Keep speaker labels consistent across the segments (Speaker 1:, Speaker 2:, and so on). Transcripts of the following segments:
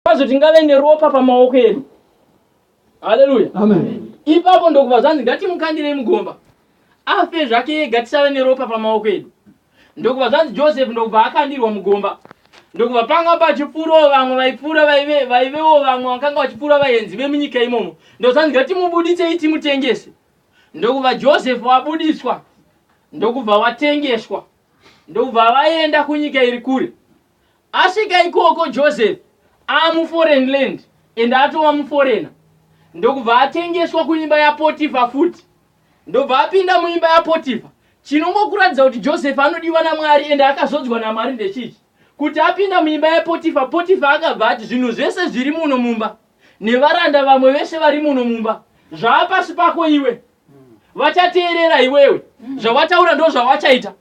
Speaker 1: Kwazvo tingave neropa pamaoko edu. Haleluya. Amen.
Speaker 2: Ipapo ndokubva zvanzi
Speaker 1: ngatimukandirei mugomba. Afe zvake ega tisave neropa pamaoko edu. Ndokubva zvanzi Joseph ndokubva akandirwa mugomba. Ndokubva panga pachipfuurawo vamwe vaipfuura vaive vaivewo vamwe vakanga vachipfuura vaenzi vemunyika imomo. Ndozvanzi ngatimubuditsei timutengese. Ndokubva Joseph wabudiswa ndokubva watengeswa. Ndokubva vaenda kunyika iri kure. Asvika ikoko Joseph aamu foreign land and atova mu foreigner ndokubva atengeswa kuimba ya Potifa futi ndobva apinda muimba ya Potifa. Chinongokuratidza kuti Joseph anodiwa na Mwari and akazodzwa na Mwari ndechichi kuti apinda muimba ya Potifa, Potifa akabva ati zvinhu zvese zviri muno mumba nevaranda vamwe vese vari muno mumba zvaapasi pako iwe. vachateerera iwewe zvawataura ndo zvawachaita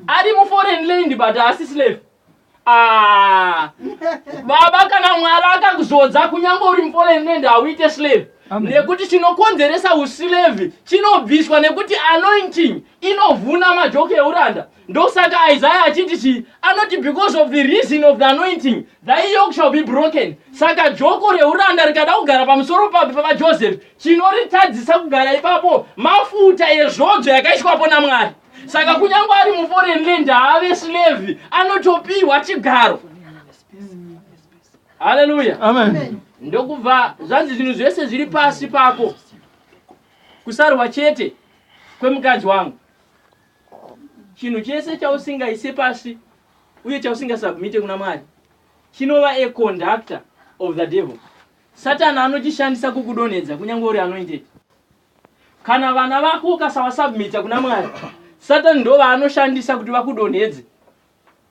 Speaker 1: ari muforeign land but haasi slave Ah, baba kana mwari akakuzodza kunyange uri muforeign land hauite slave Amen. nekuti chinokonzeresa uslave chinobviswa nekuti anointing inovhuna majoki euranda Ndosaka Isaiah achiti chii? Anoti because of the reason of the anointing thy yoke shall be broken. Saka joko reuranda rikada kugara pamusoro papi papa Joseph chinoritadzisa kugara ipapo mafuta ezvodzo yakaiswapo naMwari. Saka kunyange ari muforeign land haave slave anotopiwa chigaro. Hallelujah. Amen.
Speaker 2: ndokubva
Speaker 1: zvanzi zvinhu zvese zviri pasi pako kusarwa chete kwemukadzi wangu Chinhu chese chausingaise pasi uye chausingasubmite kuna Mwari chinova a conductor of the devil. Satani anochishandisa kukudonhedza kunyange uri anointed. Kana vana vako ukasavasubmita kuna Mwari, Satani ndovaanoshandisa kuti vakudonhedze.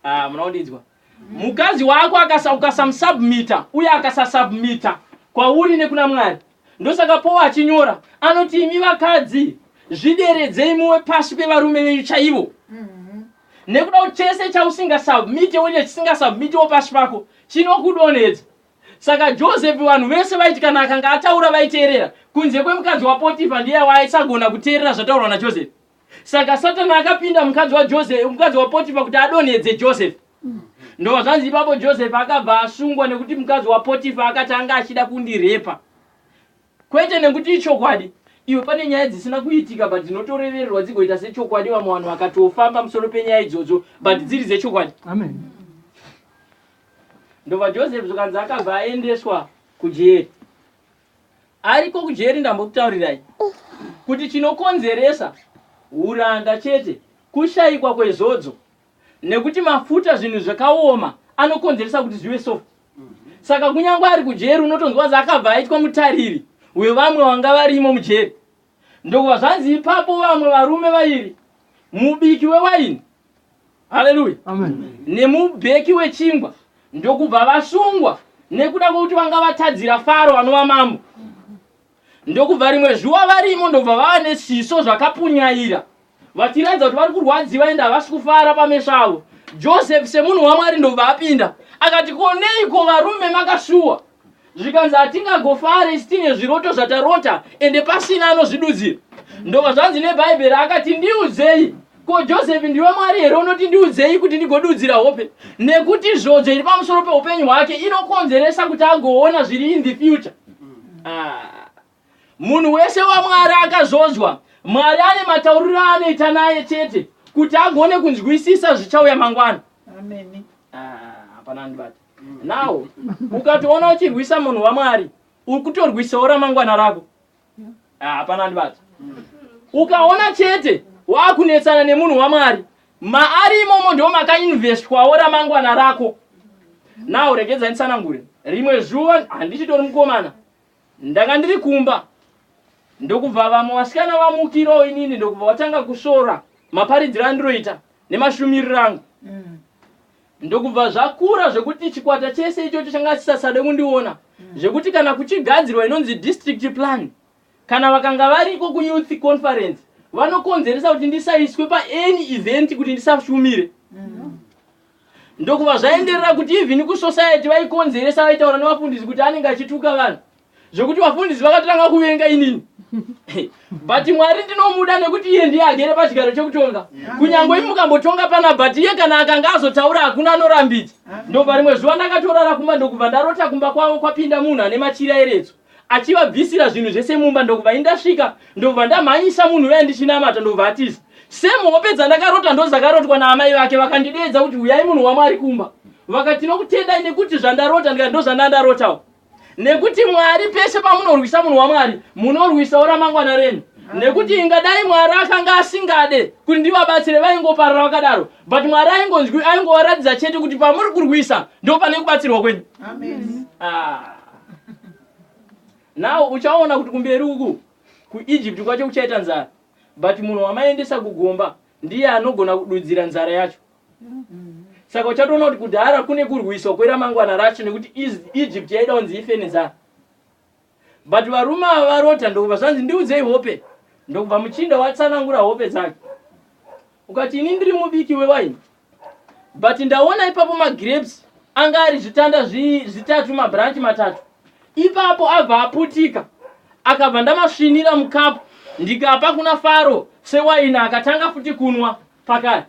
Speaker 1: Ah, muna kundinzwa? Mukadzi wako akasa ukasamusubmita uye akasasubmita kwauri nekuna Mwari. Ndosaka Paul achinyora anoti imi vakadzi zvideredzei muwe pasi pevarume venyu chaivo. Nekuda kuti chese chausingasubmite uye chisingasubmitewo pasi pako chinokudonhedza. Saka Joseph vanhu vese vaiti kana akanga ataura vaiteerera kunze kwemukadzi waPotifa ndiye waaisagona kuteerera zvataurwa naJoseph. saka satani akapinda mukadzi wajosefi mukadzi wapotifa kuti adonhedze josefi ndo zvanzi ipapo josefi akabva asungwa nekuti mukadzi wapotifa akati anga achida kundirepa kwete nekuti ichokwadi iwe pane nyaya dzisina kuitika but dzinotorevererwa dzigoita sechokwadi vamwe vanhu vakatofamba musoro penyaya idzodzo but dziri dzechokwadi Amen. ndobva josefi zvikanzi akabva aendeswa kujeri ariko kujeri ndambokutaurirai kuti chinokonzeresa huranda chete kushaikwa kwezodzo nekuti mafuta zvinhu zvakaoma anokonzeresa kuti zvive so saka kunyangwe ari kujeri unotonzwa kuti akabva aitwa mutariri wevamwe vanga varimo mujeri Ndokubva zvanzi ipapo vamwe varume vairi, mubiki wewaini, haleluya,
Speaker 2: nemubeki
Speaker 1: wechingwa, ndokubva vasungwa nekuda kwekuti vanga vatadzira Faro anova mambo. Ndokubva rimwe zuva varimo ndokubva vava nezviso zvakapunyaira Vachiratidza kuti vari kurwadziwa ende havasi kufara pameso avo, Joseph semunhu waMwari ndobva apinda akati, Ko neiko varume makasuwa? Zvikanzi, Hatingagofare isu tine zviroto zvatarota ende pasina anozvidudzira. Ndobva zvanzi neBhaibheri, akati, Ndiudzei. Ko Joseph ndiwe Mwari here unoti ndiudzei kuti ndigodudzira hope? Nekuti zvodzo iri pamusoro peupenyu hwake inokonzeresa kuti agoona zviri in the future. Ah. Munhu wese waMwari akazodzwa. Mwari ane matauriro aanoita naye chete kuti agone kunzwisisa zvichauya mangwana. Ameni.
Speaker 3: Ah, hapana
Speaker 1: andibata. Now, ukatoona uchirwisa munhu waMwari, uri kutorwisawo ramangwana rako. Ah, hapana andibata. Ukaona chete wakunetsana nemunhu waMwari, maari imomo ndiwo makainvestwawo ramangwana rako. Now, regedza nditsanangure. Rimwe zuva handichitori mukomana. Ndanga ndiri kumba ndokubva vamwe vasikana vamukirawo inini ndokubva vatanga kusvora maparidziro andiroita nemashumiriro angu mm. ndokubva zvakura zvekuti chikwata chese ichocho changa chisasade kundiona mm. zvekuti kana kuchigadzirwa inonzi district plan kana vakanga variko kuyouth conference vanokonzeresa kuti ndisaiswe paany event kuti ndisashumire mm. Ndokubva zvaenderera kuti even kuSociety vaikonzeresa vaitaura nevafundisi kuti anenge achituka vanhu zvekuti vafundisi vakatanga kuvenga inini but Mwari ndinomuda nekuti iye ndiye agere pachigaro chekutonga kunyangwe mukambotonga pana but iye kana akanga azotaura hakuna anorambidza ndobva rimwe zuva ndakatorara kumba ndokubva ndarota kumba kwavo kwapinda munhu ane machira eretso achivabvisira zvinhu zvese mumba ndokubva indasvika ndokubva ndamhanyisa munhu uya ndichinamata ndokubva atiza same hope dzandakarota ndozakarotwa naamai vake vakandideedza kuti huyai munhu wamwari kumba vakati tinokutendai nekuti zvandarota ndikati ndozvandandarotawo nekuti mwari pese pamunorwisa munhu wamwari munorwisawo ramangwana renyu nekuti ingadai mwari akanga asingade kuti ndivabatsire vaingoparara vakadaro but mwari aingonzwi aingovaratidza chete kuti pamuri kurwisa ndo pane kubatsirwa kwenyu ah. now uchaona kuti kumberi uku kuegypt kwacho kuchaita nzara but munhu wamaendesa kugomba ndiye anogona kududzira nzara yacho saka uchatoona kuti kudhara kune kurwiswa kweramangwana racho nekuti Is- egypt yaida kunzi ife nenzara but varume ava varota ndokubva zvanzi ndiudzei hope ndokubva muchinda watsanangura hope dzake ukati ini ndiri mubiki wewaini But ndaona ipapo magrapes anga ari zvitanda zvi, zvitatu mabranch matatu. Ipapo abva aputika akabva ndamasvinira mucup ndikapa kuna Faro sewaini akatanga futi kunwa pakare.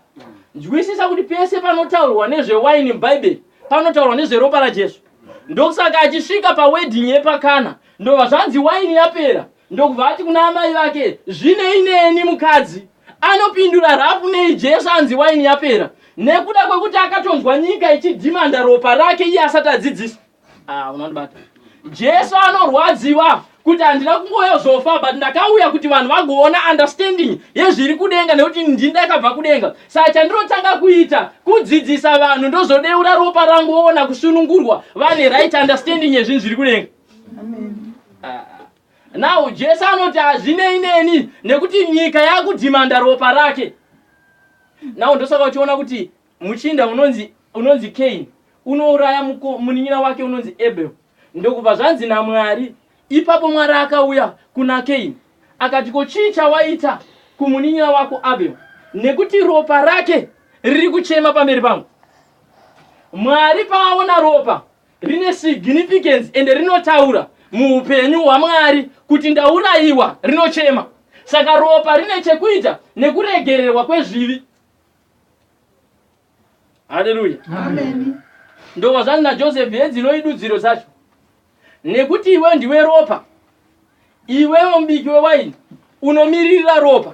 Speaker 1: Nzwisisa kuti pese panotaurwa nezvewaini muBhaibheri panotaurwa nezveropa raJesu. Ndokusaka achisvika pawedding yepaKana ndobva zvanzi waini yapera Ndokubva ati kuna amai vake, Zvinei neni, mukadzi? Anopindura rafu nei Jesu anzi waini yapera? Nekuda kwekuti akatonzwa nyika ichidhimanda ropa rake iye asati adzidzisa? Ah, unondibata. Jesu anorwadziwa kuti handina kungouya kuzofa but ndakauya kuti vanhu vagoona understanding yezviri kudenga nekuti ndini ndakabva kudenga. Saka chandinotanga kuita kudzidzisa vanhu ndozodeura ropa rangu voona kusunungurwa vane right understanding yezvinhu zviri kudenga. now jesu anoti hazvinei neni nekuti nyika yakudhimanda ropa rake now ndosaka uchiona kuti muchinda unonzi unonzi kain unouraya muko- munin'ina wake unonzi abel ndokubva zvanzi namwari ipapo mwari akauya kuna kain akati ko chii chawaita kumunin'ina wako abel nekuti ropa rake riri kuchema pamberi pangu mwari paaona ropa Rine significance ende rinotaura muupenyu hwaMwari kuti ndaurayiwa rinochema. Saka ropa rine chekuita nekuregererwa kwezvivi. Haleluya. Amen.
Speaker 2: Ndovazvanzi
Speaker 1: naJoseph, hedzi noidudziro dzacho. Nekuti iwe ndiwe ropa. Iwewe mubiki wewaini unomiririra ropa,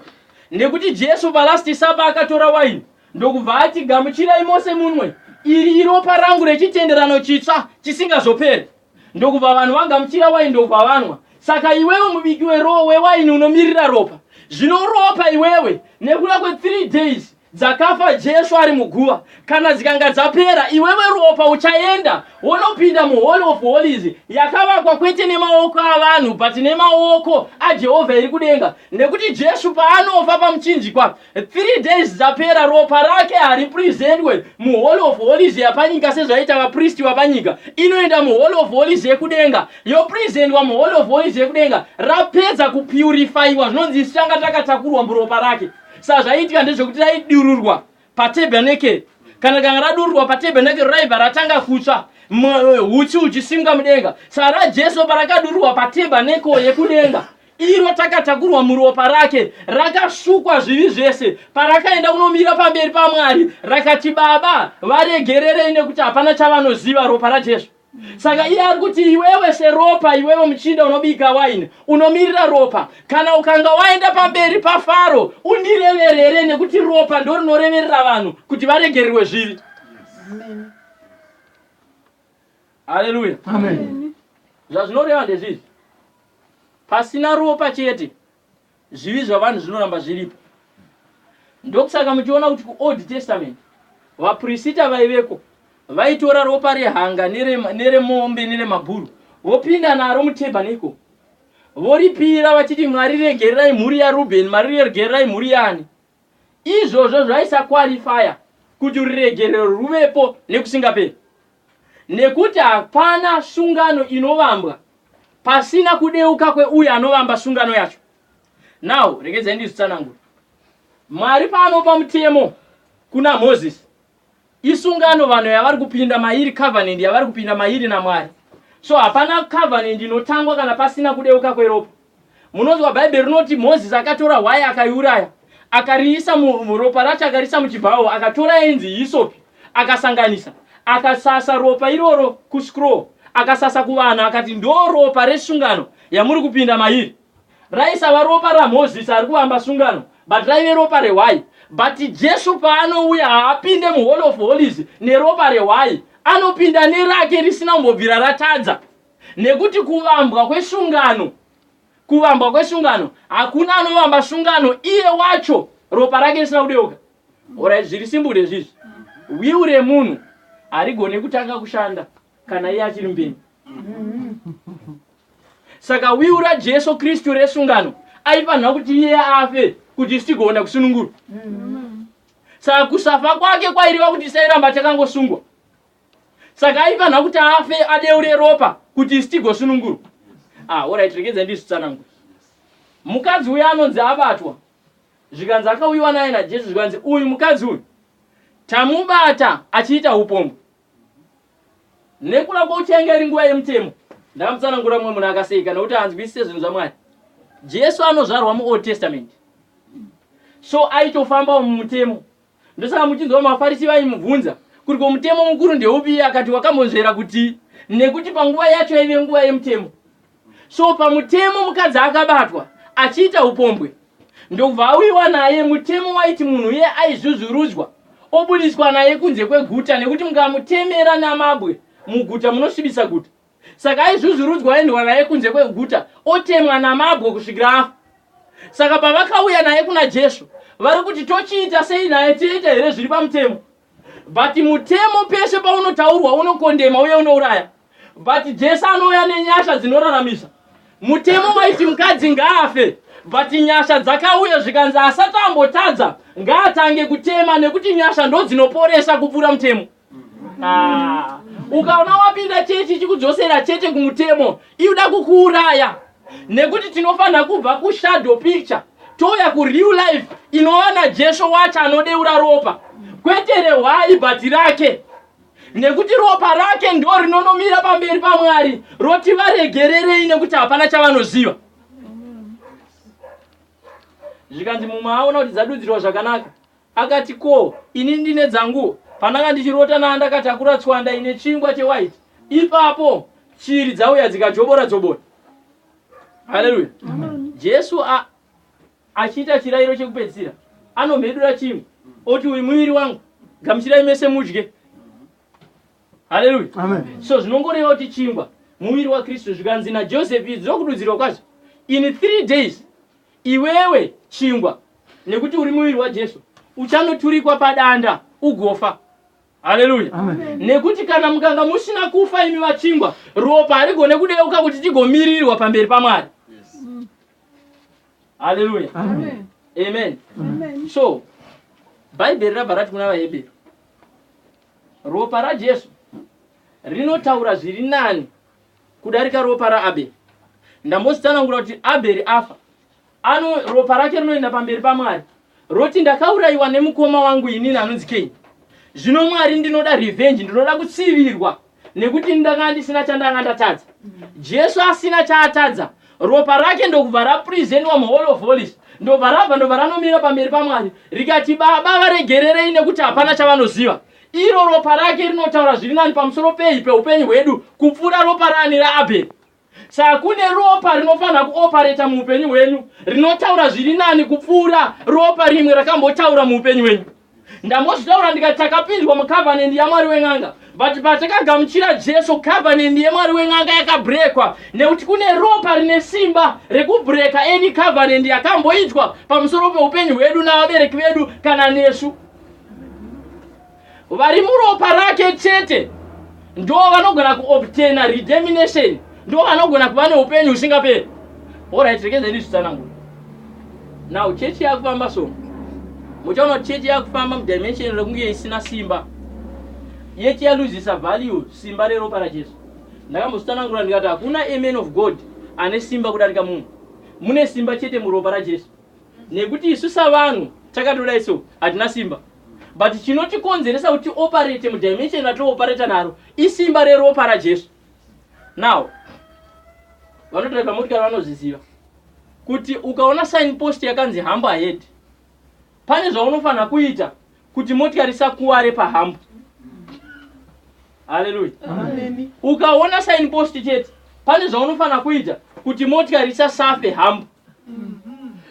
Speaker 1: nekuti Jesu paLast Supper akatora waini ndokubva ati, Gamuchirai mose munwe, iri iropa rangu rechitenderano chitsva chisingazoperi. Ndokubva vanhu vagamuchira waini ndokubva vanwa. Saka iwewe mubiki wewaini unomiririra ropa, zvino ropa iwewe nekuda kwe three days dzakafa Jesu ari muguva, kana dzikanga dzapera, iwewe Ropa uchaenda wonopinda muHoly of Holies yakavakwa kwete nemaoko avanhu but nemaoko aJehovha iri kudenga. Nekuti Jesu paanofa paMuchinjikwa, three days dzapera Ropa rake haripresentwe muHoly of Holies yapanyika sezvaiita vapristi vapanyika. Inoenda muHoly of Holies yekudenga, yopresentwa muHoly of Holies yekudenga, rapedza kupurifaiwa zvinonzi isu tanga takatakurwa muRopa rake. Saka zvaiitika ndezvekuti raidururwa patabernakeri. Kana rikanga radururwa patabernakeri raibva ratanga kutsva mwe- huchi huchisimwa mudenga. Saka raJesu parakadururwa patabernakeri yekudenga iro takatakurwa muropa rake rakasukwa zvivi zvese parakaenda kunomira pamberi pamwari rakati baba varegererei nekuti hapana chavanoziva ropa rajesu Saka iye ari kuti iwewe seropa, iwewe muchinda unobika waini, unomirira ropa. Kana ukanga waenda pamberi paFaro, undireverere nekuti ropa ndorinoreverera vanhu kuti varegererwe zvivi. Haleluya.
Speaker 2: Zvazvinoreva
Speaker 1: ndezvizvi. Pasina ropa chete Zvivi zvavanhu zvinoramba zviripo. Ndokusaka muchiona kuti kuOld Testament vaprisita vaiveko vaitora ropa rehanga neremombe neremabhuru vopinda naro mutabernacle voripira vachiti, Mwari regererai mhuri yaRubheni, Mwari regererai mhuri yaani. Izvozvo zvaisa qualifier kuti ruregerero rwuvepo nekusingaperi nekuti hapana sungano inovambwa pasina kudeuka kweuyo anovamba sungano yacho. Now regedzai ndizvitsanangure. Mwari paanopa mutemo kuna Moses Isungano vanhu yavari kupinda mairi, covenant yavari kupinda mairi naMwari. So hapana covenant inotangwa kana pasina kudeuka kweropa. Munonzwa Bhaibheri rinoti Moses akatora hwai akaiuraya, akariisa muropa racho akariisa muchibhawo, akatora yainzi hisopi, akasanganisa, akasasa ropa iroro kuscroll, akasasa kuvanhu akati ndoropa resungano yamuri kupinda mairi. Raisava ropa raMoses ari kuvamba sungano but raive ropa rehwai. But Jesu paanouya haapinde muHoly of Holies neropa rehwai anopinda nerake risina kumbobvira ratadza nekuti kuvambwa kwesungano kuvambwa kwesungano hakuna anovamba sungano iye wacho ropa rake risina kudeuka. Alright zviri simple ndezvizvi. Will remunhu harigone kutanga kushanda kana iye achiri mupenyu. Saka wiu raJesu Kristu resungano aifanira kuti iye afe kuti isu tigogona kusunungurwa. Saka kusafa kwake kwaireva kuti tisairamba takangosungwa. Saka aifanira kuti afe adeure ropa kuti isu tigosunungurwa. Ah, alright, rekedza ndizvitsanangure. Mukadzi uyu anonzi abatwa zvikanzi akauyiwa naye naJesu zvikanzi uyu mukadzi uyu tamubata achiita upombwe. Nekula kwauti yanga iri nguva yemutemo, ndakamutsanangurira mumwe munhu akaseka nokuti haanzwisise zvinhu zvaMwari. Jesu anozvarwa muOld Testament, so aitofambawo mumutemo. Ndosaka muchinzwa maFarisi vaimubvunza kuti ko mutemo mukuru ndeupi, akati wakambonzvera kuti nekuti panguva yacho yaive nguva yemutemo. So pamutemo mukadzi akabatwa achiita upombwe ndokubva auyiwa naye mutemo waiti munhu uye aizvuzvurudzwa obudiswa naye kunze kweguta nekuti mukamutemera namabwe muguta munosvibisa guta. Saka aizvuzvurudzwa oendwa naye kunze kweguta otemwa namabwe kusvikira afa. Saka pavakauya naye kuna Jesu vari kuti tochiita sei naye, toita here zviri pamutemo? but mutemo peshe paunotaurwa unokondema uye unouraya but jesu anouya nenyasha dzinoraramisa mutemo waiti mukadzi ngaafe but nyasha dzakauya zvikanzi asati ambotadza ngaatange kutema nekuti nyasha ndodzinoporesa kupfuura mutemo Ah, ukaona wapinda chechi chikudzosera chete kumutemo iuda kukuuraya Nekuti tinofanira kubva ku shadow picture touya ku real life inova na Jesu wacho anodeura ropa kwete rehwai but rake. Nekuti ropa rake ndo rinonomira pamberi pa Mwari roti varegererei nekuti hapana chavanoziva. Zvikanzi mumwe aona kuti dzadudzirwa zvakanaka Akati ko ini ndine dzangu pandanga ndichirota na ndakatakura tswanda ine chingwa che white ipapo shiri dzauya dzikajobora jobora Hallelujah Jesu a achiita chirairo chekupedzisira anomhedura chingwa oti uyu muviri wangu gamuchirai mese mudye Hallelujah Amen. so zvinongoreva kuti chingwa muviri wa Kristu zvikanzi na Joseph idzi ndokududzirwa kwacho in three days Iwewe chingwa, nekuti uri muviri waJesu, uchanoturikwa padanda ugofa. Haleluya! Nekuti kana mukanga musina kufa imi vachingwa, ropa harigone kudeuka kuti tigomirirwa pamberi paMwari. Haleluya! Amen. Amen. Amen. So, Bhaibheri rabva rati kuna vaHebheru, ropa raJesu rinotaura zviri nani kudarika ropa raAbheri. Ndambozvitsanangura kuti Abheri afa, ano ropa rake rinoenda pamberi paMwari roti ndakaurayiwa nemukoma wangu inini anonzi Keini. Zvino Mwari ndinoda revenge, ndinoda kutsivirwa nekuti ndakanga ndisina chandanga ndatadza. Jesu asina chaatadza, ropa rake ndokubva rapresentwa muHall of Holies, ndobva rabva ndobva ranomira pamberi paMwari rikati, Baba varegererei nekuti hapana chavanoziva. Iro ropa rake rinotaura zviri nani pamusoro pei peupenyu hwedu kupfuura ropa raani raAbheri? Saka kune ropa rinofanira kuopareta muupenyu hwenyu rinotaura zviri nani kupfuura ropa rimwe rakambotaura muupenyu hwenyu. Ndambozvitaura ndikati takapinzwa mucovenant yaMwari wen'anga but patakagamuchira Jesu covenant yeMwari wen'anga yakabrekwa nekuti kune ropa rine simba rekubreka any covenant yakamboitwa pamusoro peupenyu hwedu navabereki vedu kana nesu. vari muropa rake chete ndo vanogona kuobtaina redemination ndo vanogona kuva neupenyu husingaperi orit rekezai ndizvitsanangura now chechi yakufamba so muchaona kuti chechi yakufamba mudimension rekunge isina simba yet yaluzisa value simba reropa rajesu ndakambozvitsanangura ndikati hakuna amen of god ane simba kudarika munhu mune simba chete muropa rajesu nekuti isu savanhu takatodai so hatina simba but chinotikonzeresa kuti operate mudimension ratooperata naro isimba reropa rajesu now vanodriva motikari vanozviziva kuti ukaona sign post yakanzi hambo ahead pane zvaunofanira kuita kuti motikari isakuware pahambo haleluya
Speaker 2: ukaona sign
Speaker 1: post chete pane zvaunofanira kuita kuti motikari isasafe hambo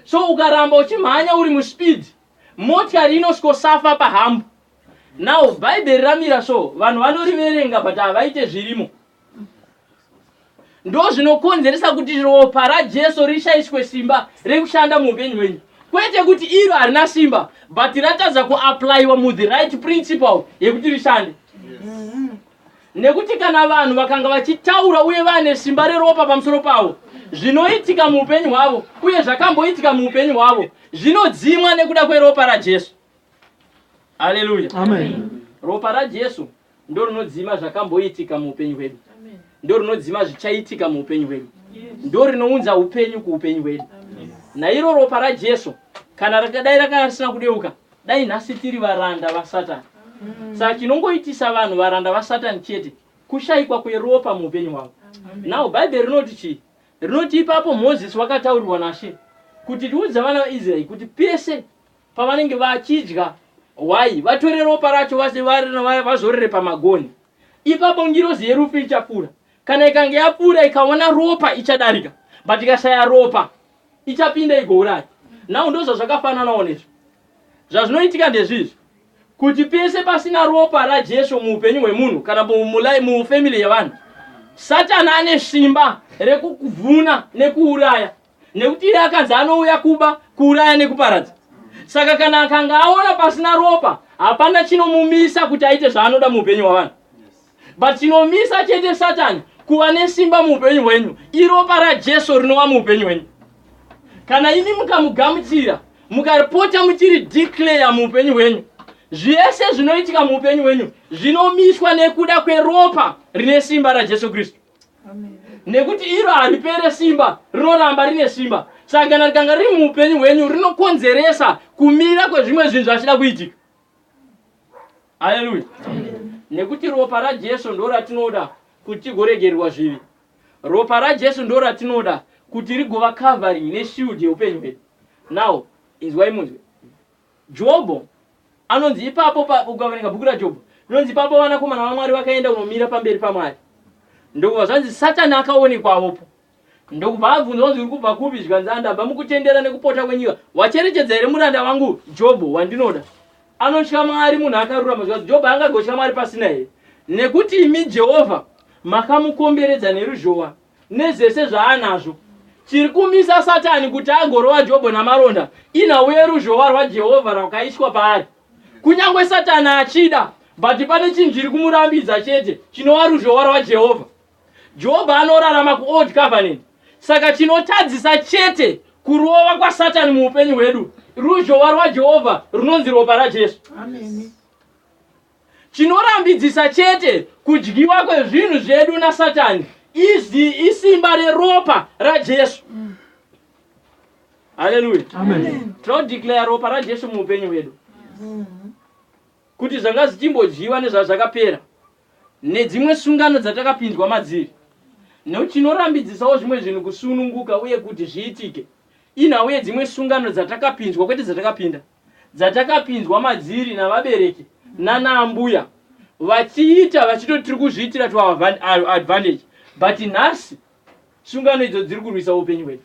Speaker 1: so ukaramba uchimhanya uri muspeed motikari inosvikosafa pahambo now bhaibheri ramira so vanhu vanoriverenga but havaite zvirimo ndo zvinokonzeresa kuti ropa rajesu rishaiswe simba rekushanda muupenyu hwenyu kwete kuti iro harina simba but ratadza kuaplyiwa muthe right principle yekuti rishande Nekuti kana vanhu vakanga vachitaura uye vane simba reropa pamusoro pavo, zvinoitika muupenyu hwavo uye zvakamboitika muupenyu hwavo zvinodzimwa nekuda kweropa raJesu. Haleluya. Amen.
Speaker 2: Ropa raJesu
Speaker 1: ndorinodzima zvakamboitika muupenyu hwedu. Ndorinodzima zvichaitika muupenyu hwedu. Ndorinounza upenyu kuupenyu hwedu. Nairo ropa raJesu kana rakadai rakanga risina kudeuka, Dai nhasi tiri varanda vaSatan. Saka chinongoitisa vanhu varanda vaSatan chete kushaikwa kweropa muupenyu hwavo. Now Bhaibheri rinoti chii? Rinoti ipapo Mozisi wakataurirwa naShe kuti riudze vana vaIsraeri kuti pese pavanenge vachidya hwai vatore ropa racho vase- va- va- vazorere pamagonhi. Ipapo ngirozi yerufu ichapfuura. Kana ikange yapfuura ikaona ropa ichadarika. But ikashaya ropa ichapinda igouraya. Now ndozvazvakafananawo nezvi. Zvazvinoitika ndezvizvi kuti pese pasina ropa raJesu muupenyu hwemunhu kana mufamily yevanhu, Satan ane simba rekukuvhuna nekuuraya nekuti iye akanzi anouya kuba, kuuraya nekuparadza. Saka kana akanga aona pasina ropa, hapana chinomumisa kuti aite zvaanoda muupenyu hwavanhu. But chinomisa chete satani kuva nesimba muupenyu hwenyu iropa rajesu rinova muupenyu hwenyu kana imi mukamugamuchira mukaripota muchiri declare muupenyu hwenyu zvese zvinoitika muupenyu hwenyu zvinomiswa nekuda kweropa rine simba rajesu kristu
Speaker 2: nekuti iro
Speaker 1: haripere simba rinoramba rine simba saka kana rikanga riri muupenyu hwenyu rinokonzeresa kumira kwezvimwe zvinhu zvachida kuitika Haleluya. Nekuti ropa raJesu ndo ratinoda kuti tigoregererwa zvivi. Ropa raJesu ndo ratinoda kuti rigova covering neshield yeupenyu hwedu. Now, inzwai munzwe. Jobho anonzi ipapo pa- ukaverenga bhuku raJobho, inonzi ipapo vanakomana vaMwari vakaenda kunomira pamberi paMwari. Ndokubva zvanzi Satani akaonekwavopo. Ndokubva abvunzwa kunzi uri kubva kupi zvikanzi andabva mukutendera nekupota kwenyika wacherechedza here muranda wangu Jobho wandinoda anotya Mwari munhu akarurama zvikanzi Jobho angagotya Mwari pasina here nekuti imi Jehovha makamukomberedza neruzhowa nezvese zvaanazvo chiri kumisa Satani kuti agorova Jobho namaronda inhau yeruzhowa rwaJehovha rwakaiswa paari kunyange Satani achida but pane chinhu chiri kumurambidza chete chinova ruzhowa rwaJehovha Jobho anorarama kuOld Covenant. Saka chinotadzisa chete kurova kwaSatani muupenyu hwedu ruzhowa rwaJehovha runonzi ropa raJesu.
Speaker 2: Chinorambidzisa
Speaker 1: chete kudyiwa kwezvinhu zvedu naSatani izvi isimba reropa raJesu. Haleluya. Tinodeclare
Speaker 2: ropa
Speaker 1: raJesu muupenyu hwedu kuti zvanga zvichimbodyiwa nezvazvakapera. Nedzimwe sungano dzatakapinzwa madziri. Nekuti tinorambidzisawo zvimwe zvinhu kusununguka uye kuti zviitike. Inhau yedzimwe sungano dzatakapinzwa, kwete dzatakapinda, dzatakapinzwa madziri navabereki nana ambuya vachiita vachitoti tiri kuzviitira to our advantage but nhasi. Sungano idzo dziri kurwisa upenyu hwedu.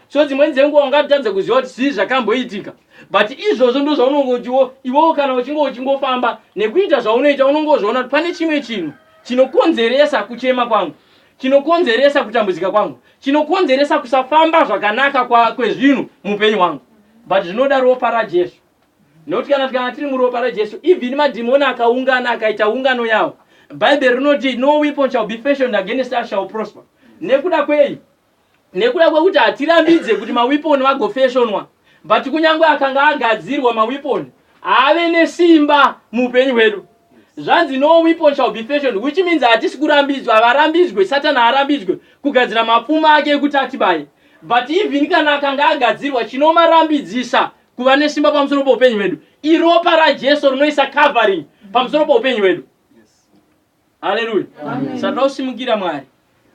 Speaker 1: So
Speaker 2: dzimweni dzenguva
Speaker 1: ungatadza kuziva kuti zvii zvakamboitika but izvozvo ndo zvaunongotiwo iwewo kana uchinge uchingofamba nekuita zvaunoita unongozviona kuti pane chimwe chinhu chinokonzeresa kuchema kwangu chinokonzeresa kutambudzika kwangu chinokonzeresa kusafamba zvakanaka kwezvinhu muupenyu hwangu but zvinoda ropa rajesu Nokuti kana tikanga tiri muropa raJesu, even madhimoni akaungana akaita ungano yawo, Bhaibheri rinoti no weapon shall be fashioned against us shall prosper. Nekuda kwei? Nekuda kwekuti hatirambidze kuti mawiponi agofeshonwa, but kunyange akanga agadzirwa mawiponi haave nesimba muupenyu hwedu. Zvanzi no weapon shall be fashioned, which means hatisi kurambidzwa, havarambidzwe, Satani haarambidzwe kugadzira mapfumo ake ekuti atibaye. But even kana akanga agadzirwa, chinomarambidzisa Kuva nesimba pamusoro poupenyu hwedu. Iropa raJesu rinoisa covering pamusoro poupenyu hwedu. Haleluya. Satoda kusimukira Mwari.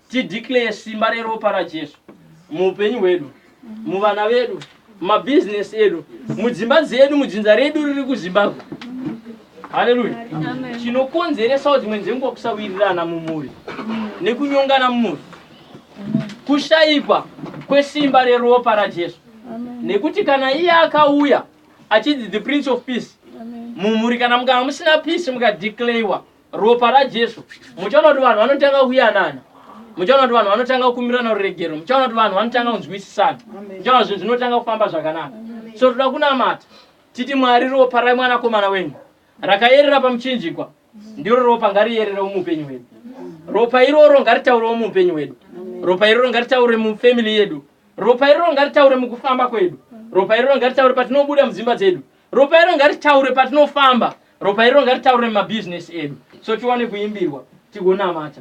Speaker 1: Tideclare simba reropa raJesu muupenyu hwedu, muvana vedu, mabhizinesi edu, mudzimba dzedu, mudzinza redu riri kuZimbabwe. Haleluya. Chinokonzeresawo dzimwe dzenguva kusawirirana mumhuri nekunyongana mumhuri. Kushaikwa kwesimba reropa raJesu. nekuti kana iye akauya achinzi the prince of peace mumhuri kana mukanga musina peace mukadeclarewa ropa rajesu muchaona kuti vanhu vanotanga kuyanana muchaona kuti vanhu vanotanga kukumirana ruregero muchaona kuti vanhu vanotanga kunzwisisana muchaona kuti zvinhu zvinotanga kufamba zvakanaka so toda kunamata titi mwari ropa ramwanakomana wenyu rakayerera pamuchinjikwa ndiro ropa ngariyererewo muupenyu hwedu ropa iroro ngaritaurewo muupenyu hwedu ropa iroro ngaritaure mufamily yedu ropa iroro ngaritaure mukufamba kwedu ropa iroro ngaritaure patinobuda mudzimba dzedu ropa iroro ngaritaure patinofamba ropa iroro ngaritaure mumabhizinesi edu so tiwane kuimbirwa tigonamata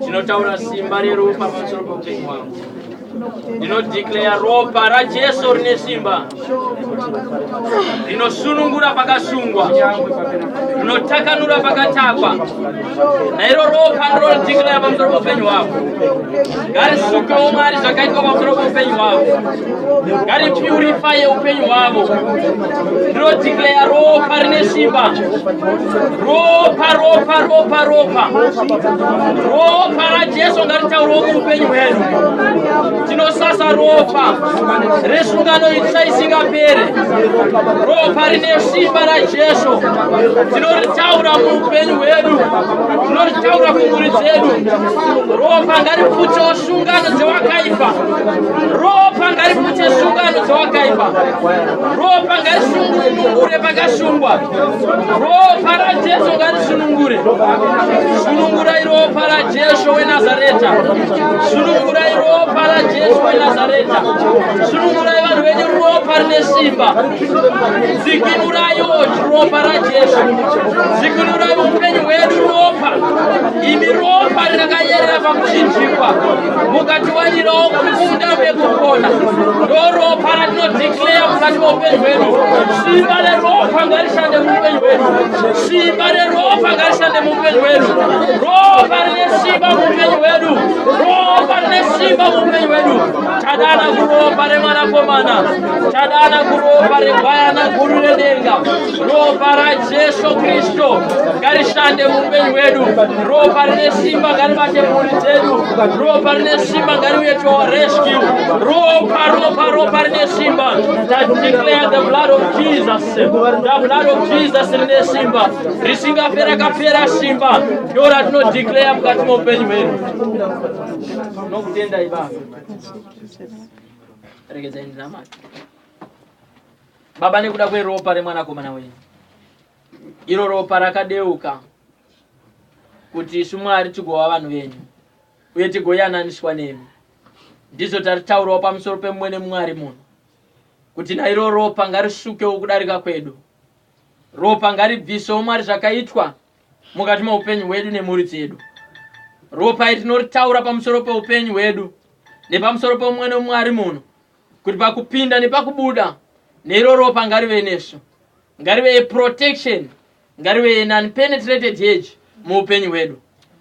Speaker 1: ndinotaura simba reropa pamusoro poupenyu wangu ndinodeclare ropa rajesu rine simba rinosunungura pakasungwa rinotakanura pakatakwa nairo ropa ndinodeclare pamusoro poupenyu hwavo ngarisukewo mwari zvakaitwa pamusoro poupenyu hwavo ngaripurifaye upenyu hwavo ndinodhikleya ropa rine simba ropa ropa ropa ropa ropa rajesu ngaritaurwo muupenyu hwedu tinosasa ropa resungano itsva isingapere ropa rine simba rajesu tinoritaura muupenyu hwedu tinoritaura kumhuri dzedu ropa ngariputsewo sungano dzewakaipa ropa ngariputse sungano dzawakaipa ropa ngarisunungure pakasungwa ropa rajesu ngarisunungure sunungurai ropa rajesu wenazareta sunungurai ropa rajesu wenazareta sunungurai vanhu venyu ropa rine simba dzikinurai oji ropa rajesu dzikinurai upenyu hwedu ropa imi ropa rinakayerera pakuchinjikwa mukati wanirawo kukunda vekupona ndoropa ratinodeclare mukati meupenyu hwedu simba reropa ngarishande muupenyu hwedu simba reropa ngarishande muupenyu hwedu ropa rine simba muupenyu hwedu ropa rine simba muupenyu hwedu tadana kuropa remwanakomana tadana kuropa regwayana guru redenga ropa rajesu kristu ngarishande muupenyu hwedu ropa rine simba ngaribate mhuri dzedu ropa rine simba ngariuye to our rescue ropa ropa ropa rine simba tadeclare the blood of jesus the blood of jesus rine simba risingapera kapera simba ndo ratinodeclare mukati meupenyu hwedu nokutendai baba regedzai ndinamata Baba, nekuda kweropa remwanakomana wenyu, iro ropa rakadeuka kuti isu Mwari tigova vanhu venyu uye tigoyananiswa nemi, ndizvo taritaurawo pamusoro pemumwe nemwari muno kuti nairo ropa ngarisukewo kudarika kwedu, ropa ngaribvisewo Mwari zvakaitwa mukati meupenyu hwedu nemhuri dzedu. Ropa iri tinoritaura pamusoro peupenyu hwedu nepamusoro pemumwe nemwari muno kuti pakupinda nepakubuda neiro ropa ngarive nesu ngarive yeprotection ngarive yenunpenetrated hedge muupenyu hwedu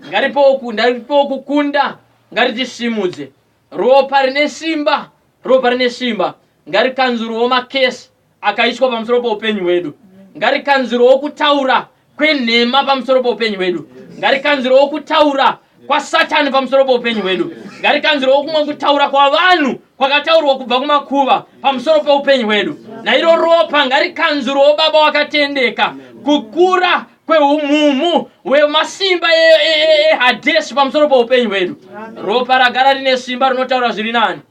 Speaker 1: ngaripewo ku- ngaripewo kukunda ngaritisimudze ropa rine simba ropa rine simba ngarikanzuruwo makesi akaitwa pamusoro poupenyu hwedu ngarikanzirowo kutaura kwenhema pamusoro poupenyu hwedu ngarikanzirowo kutaura kwasatani pamusoro poupenyu hwedu ngarikanzirowo kumwe kutaura kwavanhu kwakataurwa kubva kumakuva pamusoro peupenyu hwedu nairo ropa ngarikanzirowo baba wakatendeka kukura kweumhumu wemasimba ehadeshi e, e, e, pamusoro poupenyu hwedu ropa ragara rine simba rinotaura zviri nani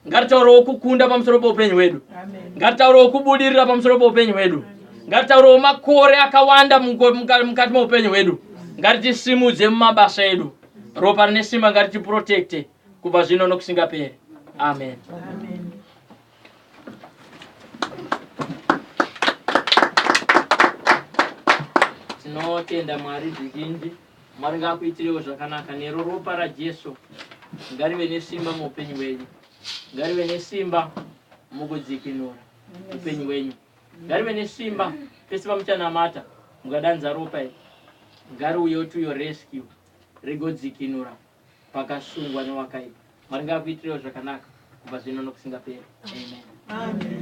Speaker 1: ngatitaurewo kukunda pamusoro peupenyu hwedu ngatitaurewo kubudirira pamusoro peupenyu hwedu ngatitaurewo makore akawanda muko- muka- mukati meupenyu hwedu ngatitisimudze mumabasa edu ropa rine simba ngatitiprotekte kubva zvino nokusingaperi amen tinotenda mwari zvizhinji Mwari ngaakuitirewo zvakanaka nero ropa raJesu ngarive nesimba muupenyu wenyu ngarive nesimba mukudzikinura upenyu wenyu ngarive nesimba pese pamuchanamata mukadanza ropa iri ngariuyewo to your rescue rigodzikinura pakasungwa newakaipa Mwari ngaakuitirewo zvakanaka kubva zvino nokusingaperi amen, amen.